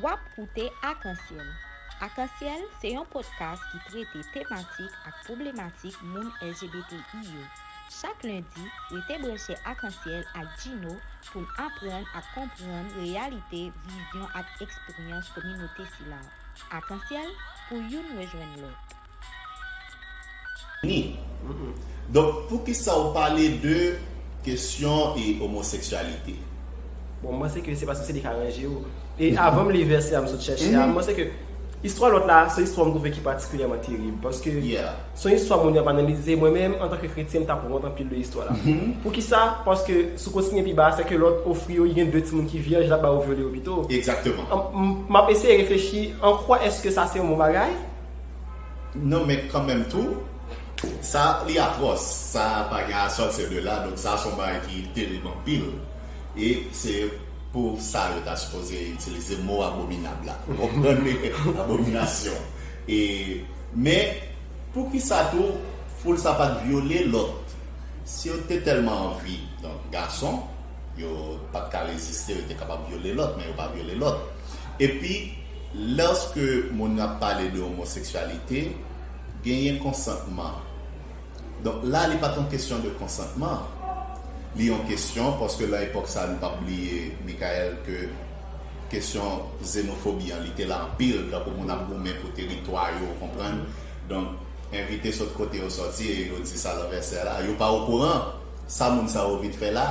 Wap koute Akansyèl. Akansyèl se yon podcast ki trete tematik ak pwoblematik moun LGBTI yo. Chak lendi, rete branche Akansyèl ak Djino pou n aprann ak konprann reyalite, vizyon ak eksperyans kominote sila. Akansyèl, pou youn rejwenn lòt. Ni. Donk poukisa ou pale de kesyon e omoseksyalite? Bon, m panse ke se paske se li k aranje yo. E avan m li vèsè a m sot chèche a, m panse ke istwa lòt la a se istwa m twouve ki patikilyèman terib. Paske se yon istwa moun yo ap analize. Mwen menm, antanke kretyen, m t ap wont anpil de istwa la. Poukisa? Paske si w kontinye pi ba a, sèke lòt ofri yo, li gen de timoun ki vyèj, l ap ba yo vyole yo pito. M ap eseye reflechi, an kwa èske sa se yon bon bagay? Non men kanmenm tou sa li atròs sa pa gen a sòtir de la donk sa son bagay ki terib anpil e se pou sa yo ta sipoze itilize mo abominab la ou konprann li abominasyon e men poukisa tou foul sa pat vyole lòt si yo te tèlman anvi donk gason. Yo pat ka reziste, yo te kapab vyole lòt, men yo pa vyole lòt. Epi, lòske moun nan ap pale de omoseksyalite, genyen konsantman. Donk, la li pat yon kesyon de konsantman. Li yon kesyon, paske lan epòk sa a, nou pap bliye, Mickael, ke kesyon zenofobi an, li te la anpil, tankou moun ap goumen pou teritwa yo, ou konprann? Donk, envite sot kote yo sòti e yo di sa lanvè sè la, yo pa okouran! Sa moun sa yo vin fè la?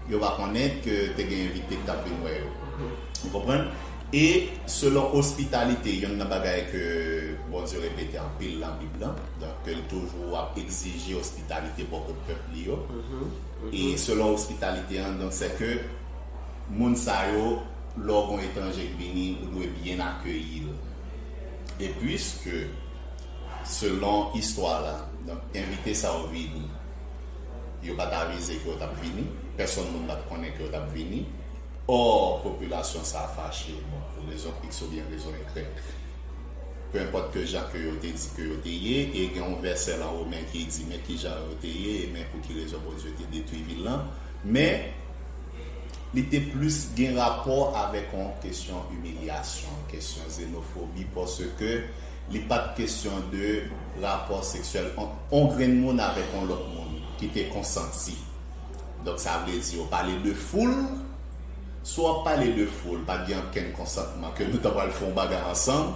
Yo pa konnen ke te gen envite ki t ap vin wè yo. Ou konprann? E, selon ospitalite, yonn nan bagay ke Bondye repete anpil nan Bib lan, donk ke l toujou ap egzije ospitalite bò kot pèp li yo, e selon ospitalite an, donk sèke moun sa yo, lè w gon etranje k vini, ou dwe byen akeyi l. E, puiske. Selon istwa la, donk envite sa yo vini, yo pa t avize ke yo t ap vini, pèsonn moun pa t konnen ke yo t ap vini, or popilasyon sa a fache, bon, pou rezon iks oubyen rezon ygrèk, pe enpòt ke jan ke yo te di ke yo te ye, e gen yon vèsè lan Women ki di men ki jan yo te ye e men pou ki rezon Bondye te detwi vil lan, men li te plis gen rapò avèk yon kesyon imilyasyon, kesyon zenofobi, paske. Li pat kesyon de rapò seksyèl ant on grenn moun avèk on lòt moun ki te konsanti. Donk sa vle di yo pale de foul, si w ap pale de foul pat gen ankenn konsantman ke nou ta pral fè on bagay ansanm,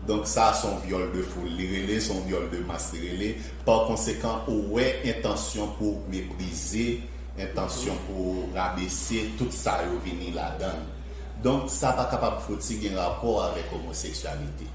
donk sa s on vyòl de foul li rele, s on vyòl de mas li rele, pa konsekan ou wè entansyon pou meprize, entansyon pou rabese tout sa yo vini ladann. Donk sa pa kapab fouti gen rapò avèk omoseksyalite.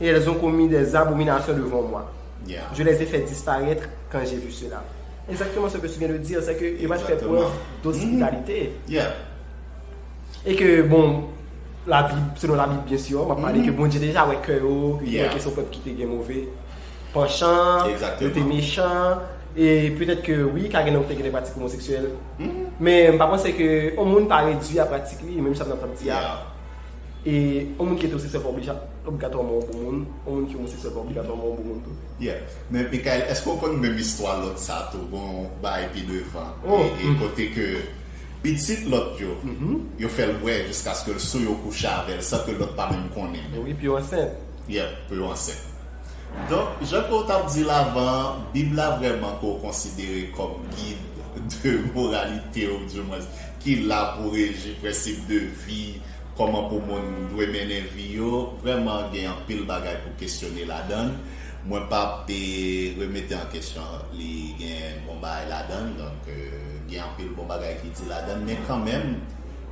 Et elles ont commis des abominations devant moi, je les ai fait disparaître quand j'ai vu cela. Exactement ce que tu viens de dire, c'est que yo pat fè preuve d'hospitalité. Et que bon, la Bible, selon la Bible bien sûr, map pale ke Bondye deja wè kè yo, ke yo te son pèp ki te gen move panchan, yo te mechan, et peut-être que oui, ka gen lè ou te gen de pratik homoseksyèl, men mpa panse ke yon moun pa redwi a pratik li, menm sa map di a. E yon moun ki etewosekswèl pa oblija, obligatwaman yon bon moun, yon moun ki omosekswèl pa obligatwaman yon bon moun tou. Yeah. Men Mickaël, eske w konn menm istwa lòt sa tou, gon yon bay pi devan, e kote ke pitit lòt yo, yo fè l bwè jiskaske l sou yo kouche avè l san ke lòt pa menm konnen. E wi, pou yo ansent. Yeah, pou yo ansent. Donk, jan ke w t ap di l avan an, Bib la vrèman ke w konsidere kòm gid de moralite ou di mwens ki la pou reji prensip de vi, kòman pou moun dwe mennen vi yo, vrèman gen anpil bagay pou kesyone ladann. Mwen p ap remete an kesyon li gen bon bagay ladann, donk gen anpil bon bagay ki di ladann, men kanmenm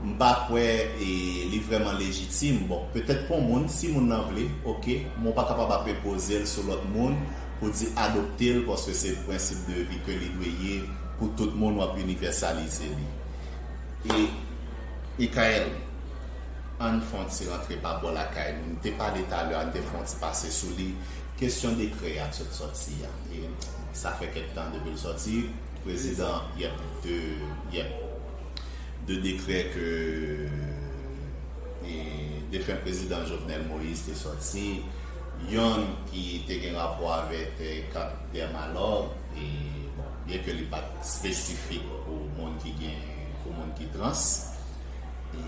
m pa kwè li vrèman lejitim. Bon, petèt pou moun, si moun lan vle, oke, men w pa kapab ap enpoze l sou lòt moun pou di adopte l paske se prensip de vi ke li dwe ye pou tout moun, w ap inivèsalize li. Mickaël, An n fon ti rantre pa bò lakay nou. M te pale talè a, n te fon ti pase sou li. Kesyon dekrè a t sot sòti a, e sa fè kèk tan depi l sòti. Prezidan, Yep, de, yep, de dekrè ke e defen prezidan Jovenel Moïse te sòti. Yonn ki te gen rapò avèk Camp des Malheurs, e bon, byenke li pa t espesifik pou moun ki gen. pou moun ki trans e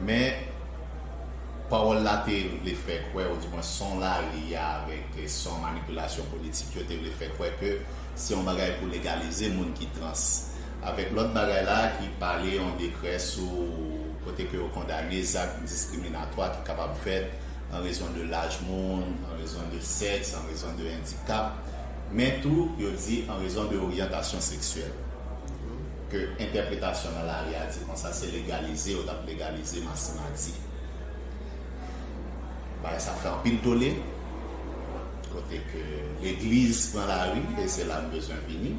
men pawòl la te vle fè kwè ou di mwen son la li a avèk son manipilasyon politik yo te vle fè kwè ke se yon bagay pou legalize moun ki trans avèk lòt bagay la ki pale yon dekrè sou kote ke yo kondane zak diskriminatwa ki kapab fèt an rezon de laj moun, an rezon de sèks, an rezon de endikap men tou yo di an rezon de oryantasyon seksyèl. ke entèpretasyon nan lari a di konsa se legalize yo tap legalize masimadi bagay sa fè anpil tole kote ke legliz pran lari e se la m bezwen vini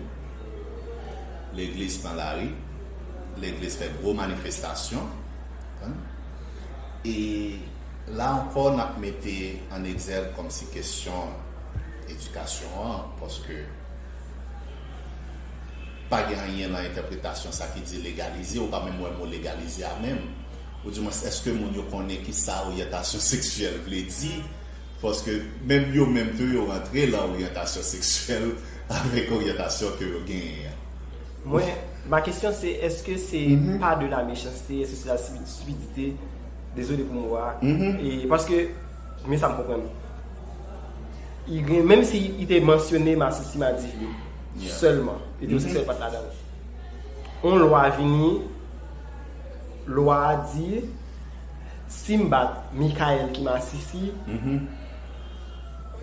legliz pran lari legliz fè gwo manifestasyon e la ankò nap mete an egzèv kòmsi kesyon edikasyon an paske Pa gen anyen lan entèpretasyon sa ki di legalize, ou pa menm wè mo legalize a menm. Ou di mwens eske moun yo konnen ki sa oryantasyon seksyèl vle di? Paske menm yo menm tou yo rantre lan oryantasyon seksyèl avèk oryantasyon ke yo genyen an. Mwen, ma kesyon se eske se pa de la mechanste, eske se la stupidite, dezole pou mo a, e paske Men sa m konprann. I gen, menm si i te mansyone masisi madifi sèlman, etewoseksyèl pa t ladan l. On lwa vini, lwa a di, si m bat Mickaël ki masisi,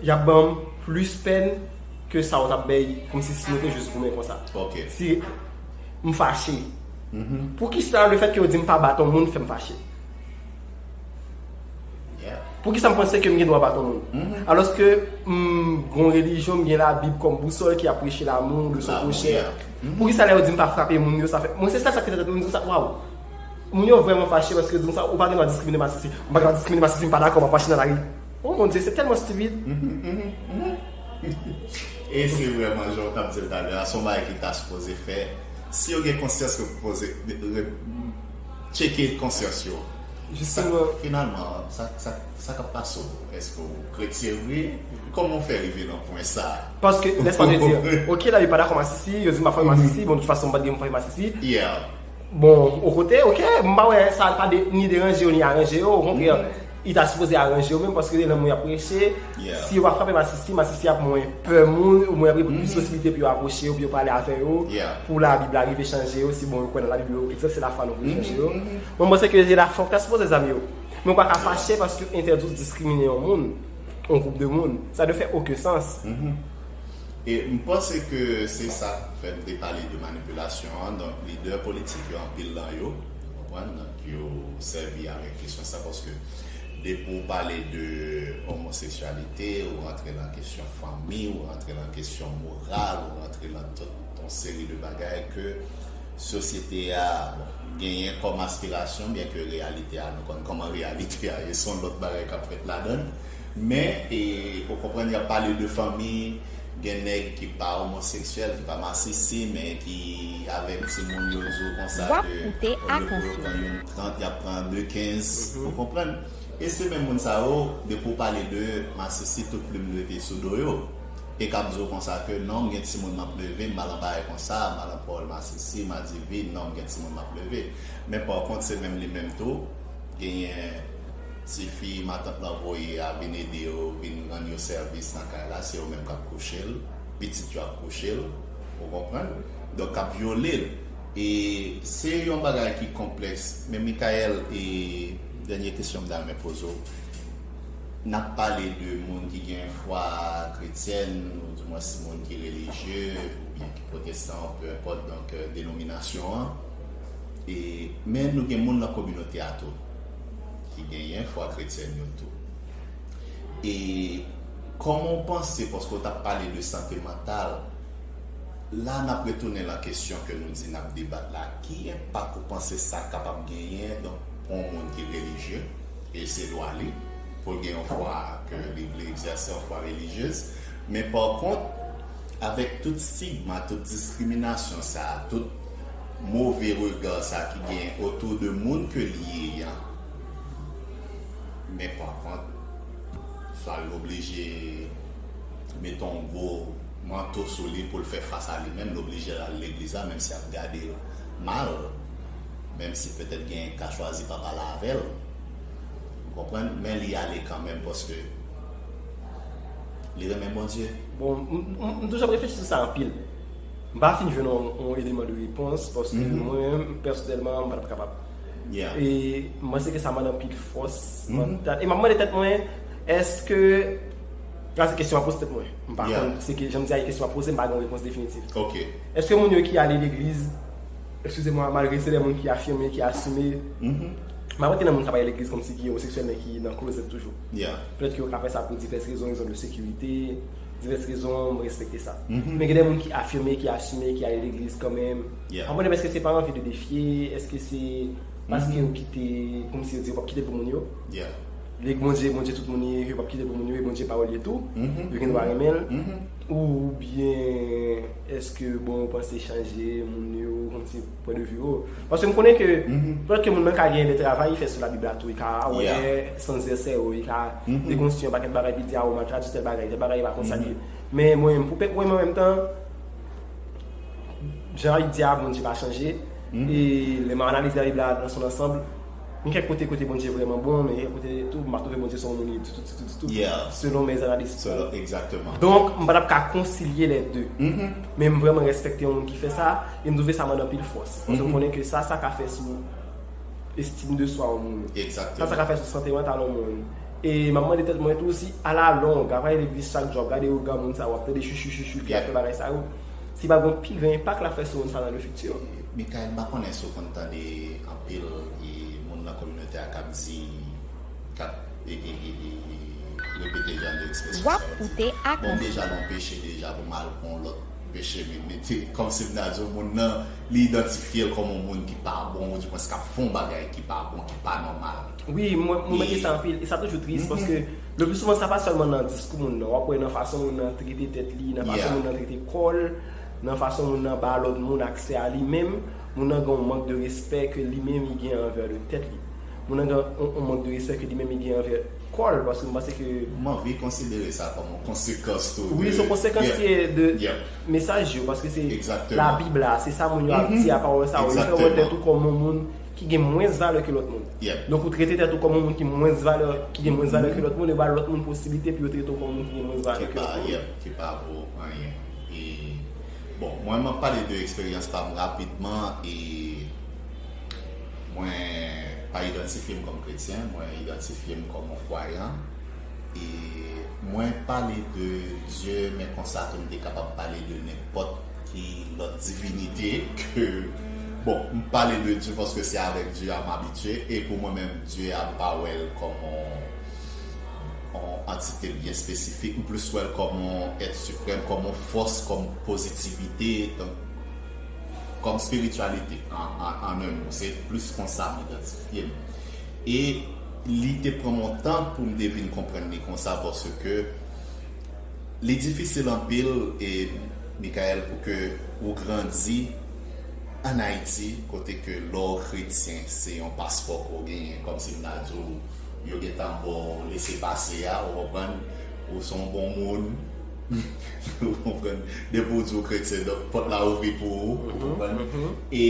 y ap ban m plis pèn ke sa ou t ap bay kòmsi si nou te jis goumen konsa. Si m fache, poukisa lefètke ou di m pa bat on moun fè m fache? Pou ki sa m panse ke m gen dwa bat yon moun? Alos ke m gon relijyon, m gen la bib kom bousol ki apreche la moun, de son pochè. Pou ki sa lè yo di m pa frape moun yo, sa fè. Mwen se sèl sa ki te tante moun, m di sa, waw. Moun yo vreman fache paske yo di m sa, ou pa gen dwa diskrimine masisi. M pa gen dwa diskrimine masisi, m pa dako, m ap mache nan lari. O mon Dye, se telman stupid. E se vreman jan w tap di l talè a, son bagay ki ta sipoze fè. Si yo gen konsyans ke pou poze. Tcheke konsyans yo. Jisteman, finalman, sa k ap pase w? Èske w kretyen vre? Kòman w fè rive nan pwen sa a? Paske, lè sa vle di, ok la, yo pa dakò masisi, yo di m pa fè masisi, bon, toutfason m pa t gen pou m fè masisi. Yeah. Bon, o kote, ok, m pa wè sa pa ni deranje yo ni aranje yo, okontrè. Yo ta sipoze aranje yo menm paske lè moun ap preche, si yo pa frape masisi, masisi ap mwen pè moun, ou mwen ap gen plis posiblite pou yo apwoche yo, pou yo pale avè yo, pou labib la rive chanje yo, si bon yo kwè nan labib yo, egzat se lafwa nou pou yo chanje yo. Mwen panse ke se lafwa ou ta sipoze zame yo. Men ou pa ka fache paske yo entèdi ou diskrimine yon moun, yon gwoup de moun. Sa dwe fè oken sans. E m panse ke se sa k fè m te pale de manipilasyon an, donk lidè politik yo anpil lan yo, ou konprann? yo sèvi avèk kesyon sa paske depi ou pale de omoseksyalite ou rantre lan kesyon fanmi ou rantre lan kesyon moral ou rantre lan tout yon seri de bagay ke sosyete a genyen kòm aspirasyon byenke reyalite a nou konn kòman reyalite a ye se yon lòt bagay kap fèt ladann Men, ou konprann y ap pale de fanmi, gen nèg ki pa omoseksyèl, ki pa masisi, men ki avèk timoun yo di w konsa ke olye pou yo pran youn 30, y ap pran de 15. Ou konprann? E se menm moun sa yo, depi w pale de masisi, tout plim leve sou do yo. E k ap di w konsa ke non, m gen timoun m ap leve, m pa lan bagay konsa, m pa lan pawòl masisi, madivi, non, m gen timoun m ap leve. Men pa kont se menm li menm tou, genyen. Tifi matant lan voye a vin ede yo vin rann yo sèvis nan kay la se yo menm kap kouche l pitit yo ap kouche l ou konprann donk kap vyole l e se yon bagay ki konplèks men Mickaël e dènye kesyon m ta renmen poze w nap pale de moun ki gen fwa kretyèn ou di mwens moun ki relijye oubyen ki pwotestan ou pe enpòt donk denominasyon an e men nou gen moun nan kominote a tou. ki genyen fwa kretyèn yo tou. E kòman w panse, paske w t ap pale de sante mantal, la n ap retounen lan kesyon ke nou di n ap debat la, ki enpak ou panse sa kapab genyen donk pou yon moun ki relijye, e se dwa li pou l gen yon fwa ke li vle egzèse, yon fwa relijyez, men pa kont avèk tout stigma, tout diskriminasyon sa, tout Move regard sa ki gen autour de moun ke li ye ya men par contre sa l oblije mete yon gwo manto sou li pou l fè fas a li menm l oblije l al legliz la menm si y ap gade l mal menm si petèt genyen ki ka chwazi pa pale avè l ou konprann men li ale kanmenm paske li renmen Bondye. Bon m toujou ap reflechi sou sa anpil. M pa fin jwenn yon eleman de repons paske mwen menm pèsonèlman m pa tap kapab. E m panse ke sa mande anpil fòs mantal. E m ap mande tèt mwen èske, sa se kesyon m ap poze tèt mwen, m pa konn, se ke jan m di a e kesyon m ap poze m pa gen yon repons definitif. Èske moun yo ki ale legliz, ekskize mwa, malgre se de moun ki afime, ki asime, m pa kwè ke nan moun k ap ale legliz kòmsi ki omoseksyèl men ki nan klozèt toujou. Pètèt ke yo ka fè sa pou divès rezon, rezon de sekirite. divès rezon an, mwen respekte sa. Men gen de moun ki afime, ki asime, ki ale legliz kanmenm. An mwen menm eske se pa anvi de defye, eske se paske yo kite, kòm si yo di yo pap kite pou moun yo. Li k Bondye, Bondye tout moun ye, yo pap kite pou moun yo, e Bondye pawòl ye tou. Yo gen dwa renmen l. Oubyen eske bon yo panse chanje moun yo, kòm si. Pwen de vue ou. Paske m konnen ke, pèt ke moun nan ka gen de travay li fè sou labib la tou, li ka wè sans de sèwo, li ka dekonstwi yon pakèt bagay epi di a ou mal tradwi tèl bagay, tèl bagay pa konsa li ye. Men mwen menm, pou pèp mwen menm an menm tan, jan labib di a, Bondye pa chanje, e lè m analize labib la nan son ansanb, Gen kèk kote kote Bondye vrèman bon, men gen kèk kote tou m pa twouve Bondye se yon moun ditou ditou ditou, selon mè zanalis mwen. Donk, m pa t ap ka konsilye lè de. Men m vrèman rèspèkte yon moun ki fè sa, e m twouve sa mande anpil fòs. Paske m konnen ke sa sa ka fè sou estime de swa yon moun. Sa sa ka fè sou sante mantal yon moun. E m ap mande tèt mwen tou si a la long, ap ale legliz chak jou, ap gade ougan moun sa yo, ap tande chuchu chuchu ki ap fè bagay sa yo, si pa gen yon pi gran enpak l ap fè sou moun sa yo nan le fiti. Mikayèl, m pa konnen si w konn tande Anpil moun nan kominote a kap di kap repete jan de ekspresyon sa yo di bon deja lè w peche deja pou m al pran yon lòt peche vin mete kòmsi m ta di w moun nan li idantifye l kòm yon moun ki pa bon ou di mwens kap fè yon bagay ki pa bon ki pa nòmal. Wi mwen remake sa anpil e sa toujou tris paske le plus souvent sa pa sèlman nan diskou moun nan wap wè nan fason moun nan trete tèt li nan fason moun nan trete kò l nan fason moun nan ba lòt moun aksè a li menm Moun nan gen yon mank de respè ke li menm li gen anvè de tèt li. Moun nan gen yon mank de respè ke li menm li gen anvè kò l, paske m panse ke. M anvi konsidere sa kòm yon konsekans tou de. Wi, se yon konsekans ki ye de mesaj yo, paske se labib la, se sa moun yo ap di a pawòl sa yo, yo fè w wè tèt ou kòm yon moun ki gen mwens valè ke lòt moun. Donk ou trete tèt ou kòm yon moun ki mwens valè, ki gen mwens valè ke lòt moun, yo ba lòt moun posiblite pou yo trete w kòm yon moun ki gen mwens valè ke lòt moun. Ki pa vo anyen. Bon mwen map pale de eksperyans pam rapidman e mwen pa idantifyem kòm kretyen mwen idantifyem kòm yon kwayan e mwen pale de Dye men konsa tou mte kapab pale de nenpòt ki lòt divinite ke bon mpale de Dye paske se avèk Dye a mabitye e pou mwen menm Dye a mpa wèl kòm yon yon antite byen espesifik, m plis wè l kòm yon èt siprèm, kòm yon fòs, kòm pozitivite, kòm espirityalite an un mo. Se plis konsa m idantifye m. E li te pran m yon tan pou m te vin konprann li konsa paske li difisil anpil, Mickaël, pou ke ou grandi an Ayiti kote ke lè w kretyen se yon paspò ke w genyen, kòmsi m ta di w. Yo gentan ba w lese pase a ou konprann, ou se yon bon moun ou konprann, depi ou di ou kretyen donk pòt la ouvri pou ou, ou konprann e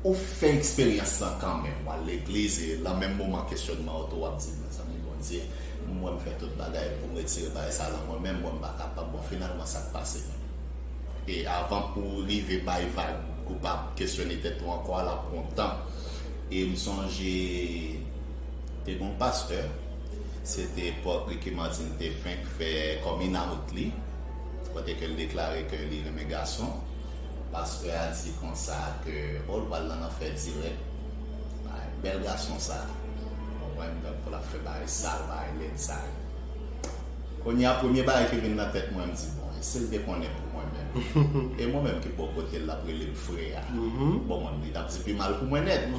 ou fè eksperyans lan kanmenm, w al legliz e lan menm moman kesyònman ou tou w ap di mezanmi Bondye m wè m fè tout bagay pou m retire bagay sa lan mwen men m wè m pa kapab, bon finalman sa k pase menm? E avan pou w rive bay vag ou pa kesyone tèt ou ankò a l ap pran w tan. e m sonje te gon pastè se te epòk Ricky Martin te fenk fè coming out li kote ke l deklare ke li renmen gason pastè a di konsa ke oh l pral nan lanfè dirèk bay bèl gason sa w konprann donk pou l ap fè bagay sal bagay lèd sa yo. Kounye a, premye bagay ki vin nan tèt mwen, m di, bon, e si l te konnen pou mwen menm? E mwen menm ki bò kote l, l ap rele m frè a? Bon, li t ap di pi mal pou mwen nèt.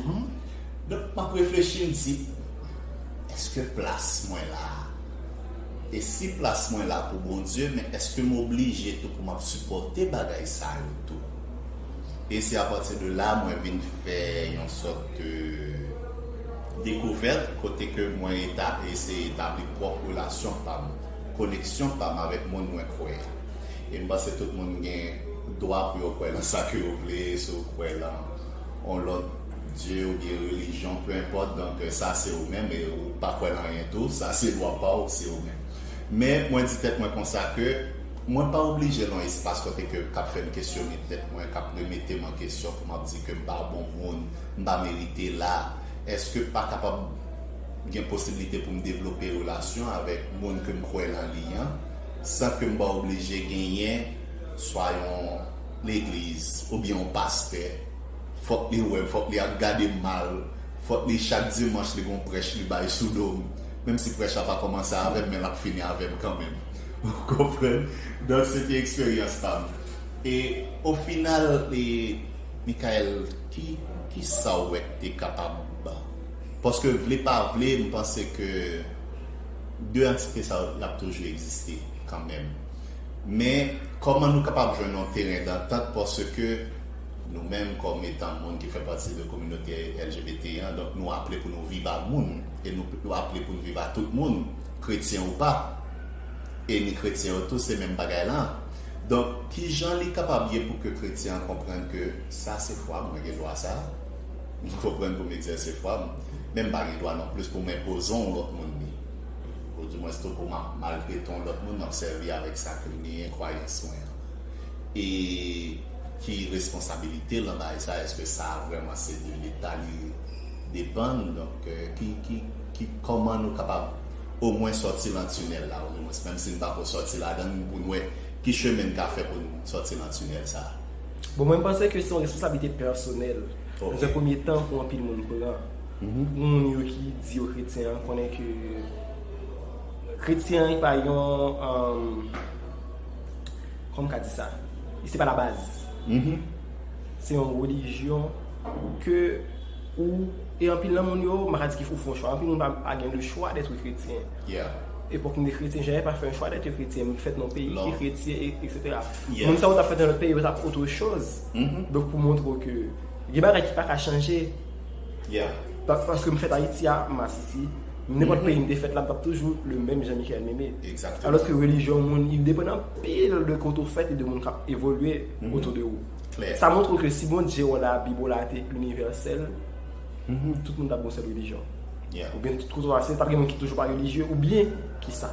Donk, m ap reflechi, m di, èske plas mwen la a? E si plas mwen la pou Bondye, men èske m oblije tou pou m ap sipòte bagay sa yo tou? E se apati de la mwen vin fè yon sòt de dekouvèt kote ke mwen eseye tabli. pwòp relasyon pa m, koneksyon pa m avèk moun mwen kwè a. E m panse tout moun gen dwa pou yo kwè nan sa ke yo vle, si w kwè lan yon lòt dye oubyen relijyon, peu importe, donk sa se ou menm, e ou pa kwè lan anyen tou, sa se dwa pa w, se ou menm. Men mwen di tèt mwen konsa ke mwen pa oblije lan yon espas kote ke k ap fè m kesyone tèt mwen, k ap remete m an kesyon pou m ap di ke m pa bon moun, m pa merite la, èske pa kapab. gen posiblite pou m devlope relasyon avèk moun ke m kwè nan li an, san ke m pa oblije genyen swa yon legliz oubyen yon pastè, fòk li wè m, fòk li ap gade m mal, fòk li chak dimanch li gen yon prèch li bay sou do m, menm si prèch la pa kòmanse avè m men l ap fini avè m kanmenm. Ou konprann? Donk se te eksperyans pa m. E ofinal, e Michaelle, ki, kisa w wè k te kapab. Paske vle pa vle m panse ke 2 antite sa yo ap toujou egziste kanmenm. Men kòman nou kapab jwenn yon teren dantant paske nou menm kòm etan moun ki fè pati de kominote LGBT an donk nou aple pou nou viv a moun e nou aple pou n viv a tout moun kretyen ou pa e ni kretyen yo tou se menm bagay lan donk kijan li kapab ye pou ke kretyen an konprann ke sa se fwa mwen gen dwa sa. M konprann pou m egzèse fwa m, men m pa gen dwa non plis pou m enpoze on lòt moun li. Odimwens tou pou m ap maltrete on lòt moun, m ap sèvi avèk sa ke m genyen, kwayans mwen an. E ki responsabilite l nan bagay sa? Eske sa a vrèman se de Leta li depann? Donk, ki, ki, ki, kòman nou kapab omwen sòti lan tinèl la? Odimwens, menm si n pa ko sòti ladan l, pou n wè ki chemen n ka fè pou n sòti lan tinèl sa a. Bon mwen panse ke se yon responsablite pèsonèl nan un premye tan pou anpil moun pran pou moun yo ki di yo kretyen an konnen ke kretyen an pa yon kòman m ka di sa se pa la baz se yon relijyon ke ou e anpil nan moun yo m pa ka di ke ou fè yon chwa anpil moun pa gen le chwa dèt kretyen epòk nou te kretyen jèn pa fè yon chwa dèt kretyen m fèt nan yon peyi ki kretyen eksetera. Yeah. Moun sa ou tap fèt nan lòt peyi yo tap otre choz. Donk pou montre w ke gen bagay ki paka chanje. Yeah. Pa, paske m fèt Ayiti a, m Asisi, nenpòt peyi m te fèt la m tap toujou le menm Jean Michel Meme. Exactement. Alòske relijyon moun li depann anpil de kote w fèt e de moun kap evolye otou de ou. Klè. Sa montre w ke si Bondye w, Labib w la te inivèsèl, tout moun tap gen yon sèl relijyon. Yeah. Oubyen tout kote w pase tap gen moun ki toujou pa relijye oubyen kisa.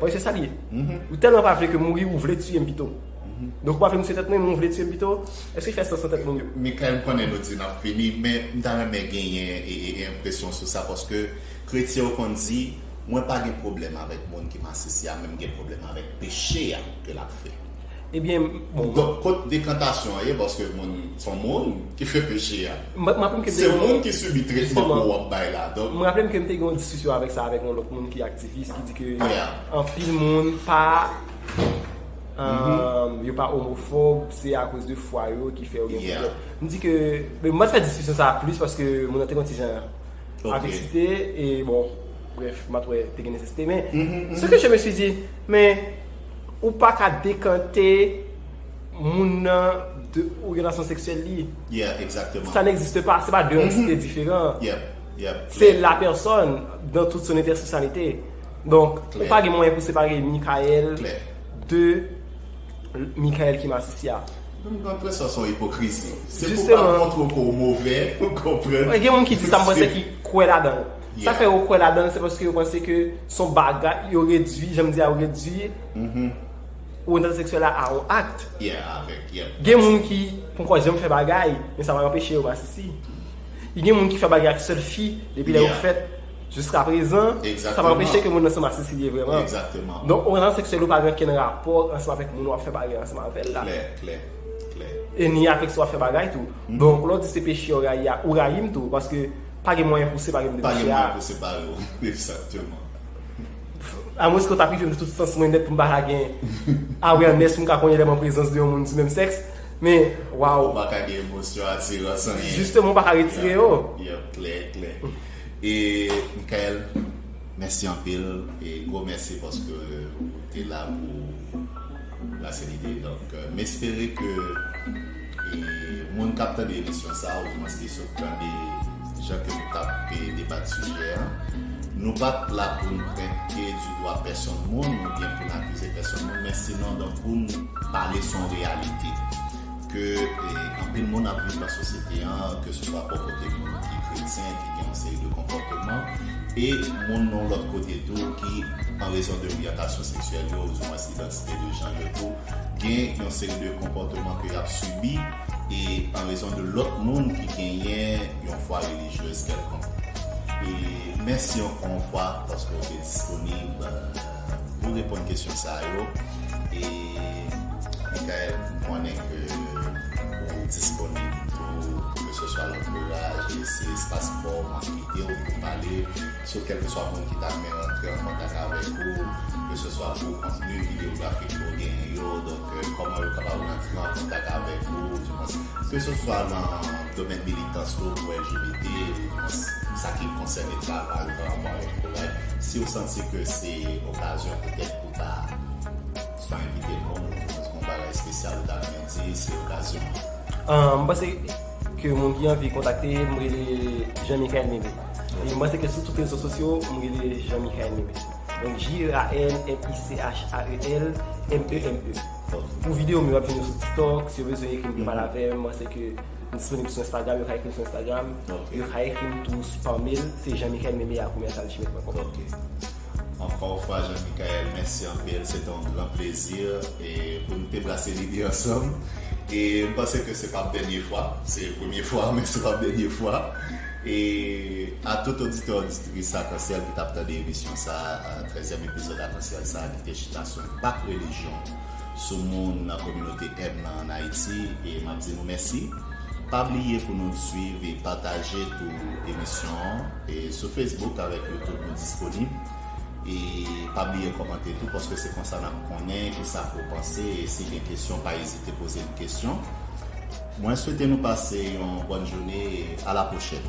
Oye se sa li ye. Ou tèlman pa vle ke mouri ou vle tiye m pito. Donk ou pa vle m tiye tèt mwen men ou vle tiye m pito. Èske fè sans nan tèt moun yo? Mikay m konnen nou di n ap fini men m ta renmen genyen enpresyon sou sa paske kretyen yo konn di mwen pa gen pwoblèm avèk moun ki masisi a men m gen pwoblèm avèk peche a ke l ap fè. Ebyen bon. Donk kot dekantasyon an ye paske moun son moun ki fè peche a. Mwen raplem ke. Se moun ki sibi tretman ke wap bay la donk. Mwen raplem kem te gen yon diskisyon avèk sa avèk yon lòt moun ki aktivis ki di ke anpil moun pa yo pa omofob se akoz de fwa yo ki fè yo gen pwoblèm. M di ke m pat fè diskisyon sa plis paske moun nan te gen yon ti jan ak eksite e bon brèf m pat wè te gen nesesite men se ke je me suis dit men Ou pa ka dekante moun nan de oryantasyon seksyèl li. Yeah, exactement. Sa n'existe pa, se pa de antite diferan. Yep, yep. Se la pèsòn dan tout son entèseksyalite. Donk, ou pa gen mwayen pou separe Mikaël de Mikaël ki masisi a. Mwen gen enpresyon son ipokrizi. Se pou pa montre w ke w move, ou konprann. Gen moun ki di sa, mwen se ki kwè ladan. Sa fè yo kwè ladanl se paske yo panse ke son bagay yo redwi janm di a yo redwi oryantazyon seksyèl la a yon akt. Yeah avèk yep. Gen moun ki ponkò janm fè bagay men sa pa anpeche yo masisi. Gen moun ki fè bagay ak sèl fi depi lè yo fèt jiska prezan sa pa anpeche ke moun nan se masisi li ye vrèman. Exactement. Donk oryantazyon seksyèl ou pa gen okenn rapò ansanm avèk moun wap fè bagay ansanm avèl la. Klè, klè, klè. E ni avèk sa wap fè bagay tou. Donk lè w di se peche ou rayi a ou rayi m tou paske Pa gen mwayen pou separe m de mesye a. Pa gen mwayen pou separe w, ekzakteman. A mwens ke w ta prive m de tout sans mwen nèt pou m pa ka gen awareness pou m ka konnen lè m an prezans de yon moun di menm sèks. Men, waw. Ou pa ka gen emosyon, atirans, anyen. Jisteman, ou pa ka retire yo. Yep, klè, klè. E, Mikael, mèsi anpil. E, gwo mèsi paske ou te la pou Brasselide. Donk, m espere ke. E moun kap tande emisyon sa ou dimwens ki sot tande jan ke nou tap debat sijè an, nou pat la poun prent pye di dwa pèsonn moun ou byen poun akize pèsonn moun men sinon donk poun pale son reyalite ke anpil moun ap viv nan sosyete an ke se swa bò kote moun ki kretyen ki gen yon seri de konpòteman e moun yon lòt kote tou ki an rezon de oryantasyon seksyèl yo ou dimwens idantite de janr yo tou gen yon seri de konpòteman ke yap sibi e an rezon de lòt moun ki genyen yon fwa relijyez kèlkonk. E mèsi ankò yon fwa paske ou te disponib pou reponn kesyon sa yo e Mickael m konnen ke ou disponib tou keseswa lantouraj e si espas paw map kite ou pou pale So kèlkeswa moun ki ta rmen rantre an kontak avèk ou, keseswa pou kontni videografik ke w genyen yo, donk kòman yo kapab rantre an kontak avèk ou, di mwens keseswa nan domèn militans ke w pou LGBT, ou di mwens sa ki konsène travay ou anrapò avèk Koray, si w santi ke se okazyon petèt pou w ta swa envite moun ou di mwens gen yon bagay espesyal ou ta rmen di, se okazyon an. M panse Ke moun ki anvi kontakte m rele Jean Michael Mebe. E m panse ke sou tout rezo sosyo m rele Jean Michael Mebe. Donk J-e-a-n-m-i-c-h-a-e-l-m-e-m-b-e. Pou videyo m yo ap jwenn yo sou TikTok. Si yo bezwen ekri m pou yo pale avè m, m panse ke m disponib sou Instagram. Yo ka ekri m sou Instagram. Yo ka ekri m tou pa mail. Se Jean Michael Mebe a commercial gmail pwen kòm. Anfwa ou fwa Jean Michael mèsi anpil se te yon gran plezi pou nou te brase lide ansanm e m panse ke se pap dènye fwa se premye fwa men se pap dènye fwa e a tout oditè oditris akansyèl ki tap tande emisyon sa trèzyèm epizòd akansyèl sa ki te chita sou enpak relijyon sou moun nan kominote M nan an Ayiti e map di nou mèsi. Pa bliye pou nou swiv e pataje tou emisyon an e sou Facebook avèk YouTube nou disponib e pa bliye kòmante tou paske se konsa nap konnen kisa ou panse e si gen kesyon pa ezite poze n kesyon. Mwen swete nou pase yon bòn joune e a la pwochèn.